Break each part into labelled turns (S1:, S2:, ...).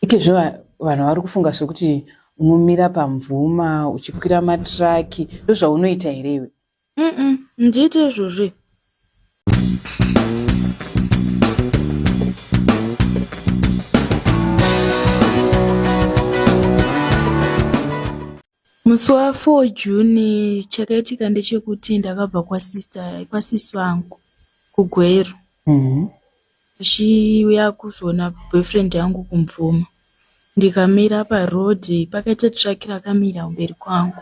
S1: Ikezvo vanhu vari kufunga zvekuti unomira pamvuma uchikwira matiraki ndozvaunoita here iwe mm ndiite
S2: izvozvi Musi wa 4 June chakaitika ndechekuti ndakabva kwasister kwasisi vangu kuGweru mm-hmm. ndichiuya kuzoona boyfriend yangu kumvuma ndikamira paroad pakaita truck rakamira kumberi kwangu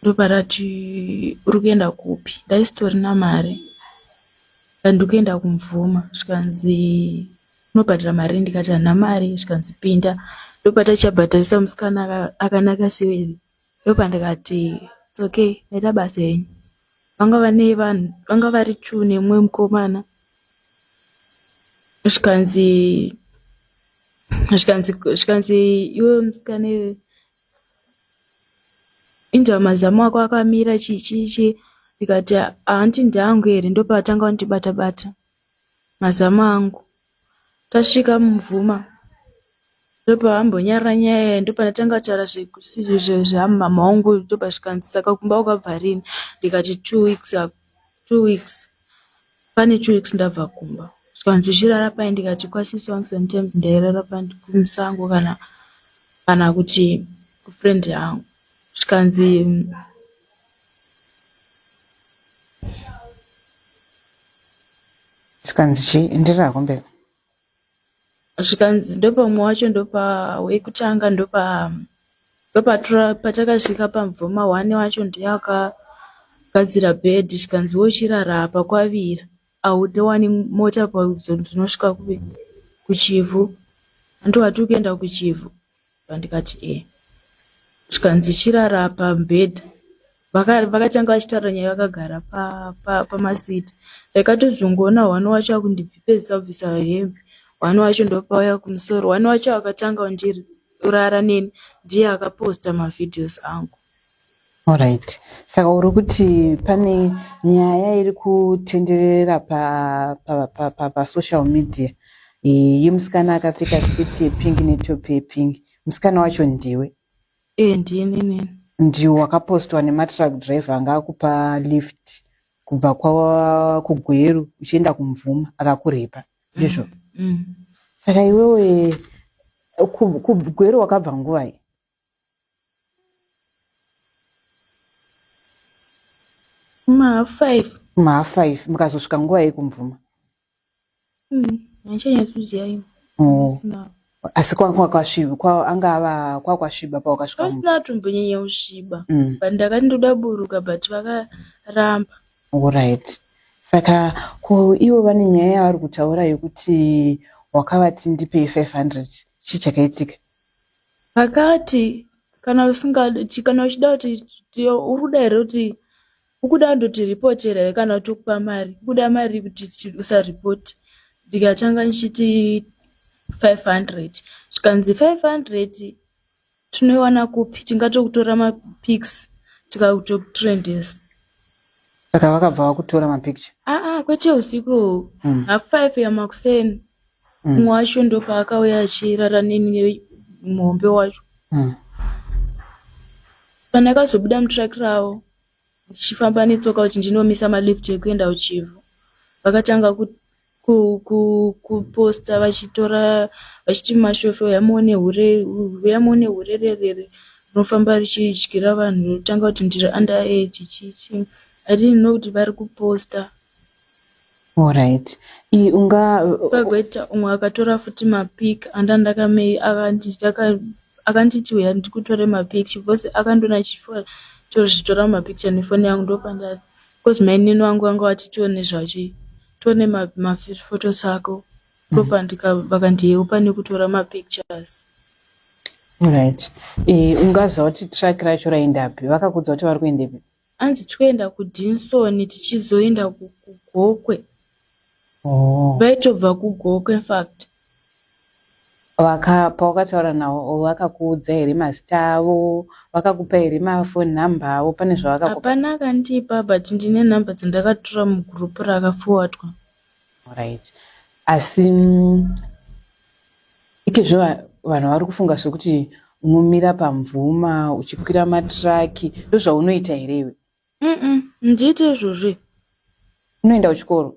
S2: ndoparati uri kuenda kupi ndaisitorina mari ndandikuenda kumvuma zvikanzi unobhadhara mari iri ndikati handina mari zvikanzi pinda ndopataichabhadharisa musikana akanaka seweri ndopandikati its okay ndaita basa henyu vanga vane vanhu vanga vari two nemumwe mukomana zvikanzi zvikanzi zvikanzi iwe musikana inzva mazamu ako akamira chichichi ndikati hanti ndangu here ndopaatanga kundibata bata, bata. Mazama angu tasvika mumvuma ndopavambonyarara nyaya iya ndopandatanga kutaura zvamama wangu ndopazvikanzi saka kumba wakabva rini ndikati two weeks ago two weeks pane two weeks ndabva kumba zvikanzi uchirara pai ndikati kwasisi wangu sometimes ndairara kumusango kana kana kuti kufriend yangu zvikanzi
S1: zvikanzi chii enderera hako mberi zvikanzi
S2: ndopamwe wacho ndopa wekutanga ndopa ndopatura patakasvika pamvoma one wacho ndiye akagadzira bed zvikanzi wochirara apa kwavira aude wani mota paudzo ndinosvika kuchivhu andiwati ukuenda kuchivhu Ndikati e zvikanzi chirara apa mubhedha vakatanga vachitaura nyaya vakagara pamasiti ndakatozongoona hwani wacho akundibvipezisa kubvisa hembe hwani wacho ndopauya kumusoro hwani wacho akatanga kundirara neni ndiye akaposta mavhidhios angu Alright.
S1: Saka uri kuti pane nyaya iri kutenderera pa pa pa pa, pa social media yemusikana akapfeka sketi yepink netop yepink. Musikana wacho ndiwe? Eh, ndini
S2: nini. Ndiwo wakapostwa
S1: nematruck driver anga akupa lift kubva kwa kugweru uchienda kumvuma akakurepa. Ndizvo. Mm. mm. Saka iwewe kugweru wakabva nguvai? mahalf five mahalf five mukazosvika nguva yei kumvuma
S2: handichanyatsoziva mm, imo oh.
S1: asi kwakwasviba kwa, anga ava kwakwasviba pawakasvika pasina atombonyanya
S2: kusviba mm. but ndakati ndoda buruka but vakaramba orit
S1: saka ko ivo vane nyaya yavari kutaura yekuti wakavati ndipei 500 chii chakaitika Akati
S2: kana usingadi chi- kana uchida kuti ti- uri kuda here kuti ukuda ndotiripotera here kana kuti ukupa mari kuda mari kuti ti- usaripoti ndikatanga ndichiti 500 zvikanzi 500 tinoiwana kupi tingatokutora mapics tikakutokutrendesa
S1: saka vakabva vakutora mapicture aa kwete usiku
S2: Mm. half five yamakuseni mumwe mm. wacho ndopaakauya achirara neni nemuhombe wacho mm. kana akazobuda mutruck ravo ndichifamba netsoka kuti ndinomisa malift ekuenda kuchivhu vakatanga kuposta vachitora vachiti mashofe uyamuone hure uyamuone hure rerere rinofamba richidyira vanhu rotanga kuti ndiri under age chichi i didn't know kuti vari kuposta
S1: Alright. Iyi unga
S2: Pagweta umwe akatora futi mapic anda ndakamei akanti taka akanditi uya ndikutore mapicture because akandona chifo tozvitora mapicture nefoni yangu ndopanda because mainini wangu vanga vati tione zvachi tione ma- mafotos ako ndopandika vakandiyeu pane kutora mapictures Alright.
S1: Iyi ungaziva kuti track racho raendapi. Vakakuudza kuti vari kuendepi. Hanzi tikuenda
S2: kuDinson tichizoenda kuGokwe. Oh. Vaitobva kuGokwe in fact. Waka
S1: pawakataura nawo wakakuudza here mazita avo? Wakakupa here mafoni number avo? Pane zvawakakupa? Hapana akandipa
S2: but ndine number dzandakatora mugroup rakafowatwa.
S1: Alright.
S2: Asi
S1: ikizvo vanhu vari kufunga sokuti unomira pamvuma uchikwira matiraki ndozvaunoita here iwe mm ndiite
S2: izvozve unoenda
S1: kuchikoro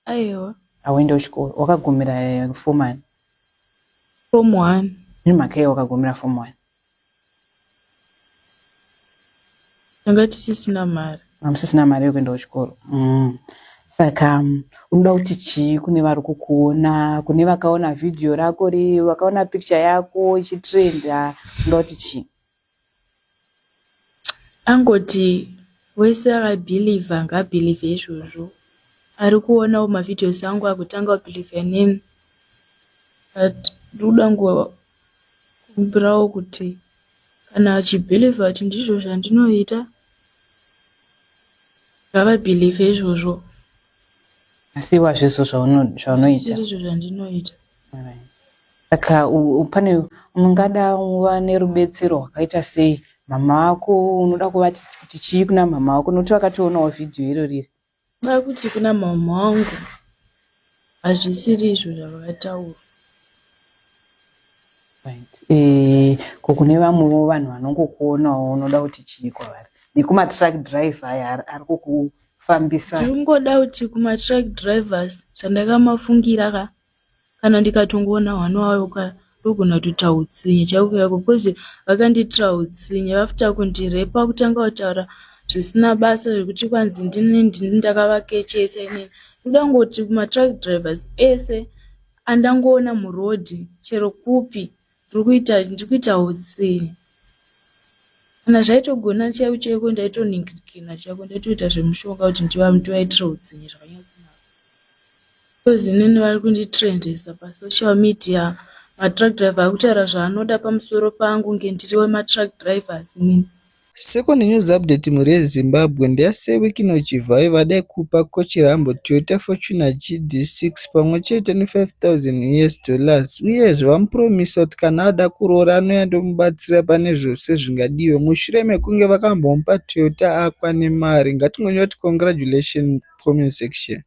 S1: aiwa
S2: hauenda kuchikoro
S1: wakagumira eh, fom ani
S2: fom one nemhaka iye wakagumira
S1: fom one
S2: tanga tisisina mari hamusisina mari yekuenda
S1: kuchikoro mm. saka um, unoda kuti chii kune vari kukuona kune vakaona vhidhiyo rako ri vakaona picture yako ichitrenda unoda kuti chii
S2: angoti wese akabhilivha ngaabhilivhe izvozvo ari kuonawo mavhidhios angu akutanga kubhilivha neni but ndikuda nguva Kumbirawo kuti kana achibhilivha kuti ndizvo zvandinoita ngavabhilivhe izvozvo.
S1: Asi iwe hazvizvo zvaunoita. Izvo zvandinoita. Saka pane mungada uva nerubetsero rwakaita sei mama vako unoda kuvati kuti chii kuna mama vako nokuti vakatoonawo vhidhiyo iroriri. Kwakuti kuna
S2: mama wangu hazvisiri izvo zvavakataura. Right.
S1: Eh, ko kune vamwewo vanhu vanongokuonawo unoda kuti chii kwavari nekumatruck driver aya ari kukufambisa ndiri kungoda kuti
S2: kumatruck drivers zvandakamafungira ka kana ndikatongoona hwana wayo ka ndogona kutoita utsinye chaiko chaiko bcause vakandiitira utsinye vafta kundirepa kutanga kutaura zvisina basa zvekuti kwanzi ndini ndini ndakavakechesa inini ndoda kungoti matruck drivers ese andangoona muroad chero kupi ndiri kuita ndiri kuita utsi kana zvaitogona chaiko chaiko ndaitoningirikina chaiko ndaitoita zvemushonga kuti ndivaitira utsinye zvakanyakunaka because inini vari kunditrendesa pasocial media matruck driver akutaura zvaanoda pamusoro pangu nge ndiri wematruck drivers inini Second news
S3: update mhuri yeZimbabwe ndeyaSeweek ino Chivhayo vadai kupa Coach Rambo Toyota Fortuner GD6 pamwe chete ne 5000 us dollars uyezve vamupromiser kuti kana ada kuroora anouya ndomubatsira pane zvose zvingadiwe mushure mekunge vakambomupa Toyota akwa nemari ngatingonyora kuti congratulations comment section.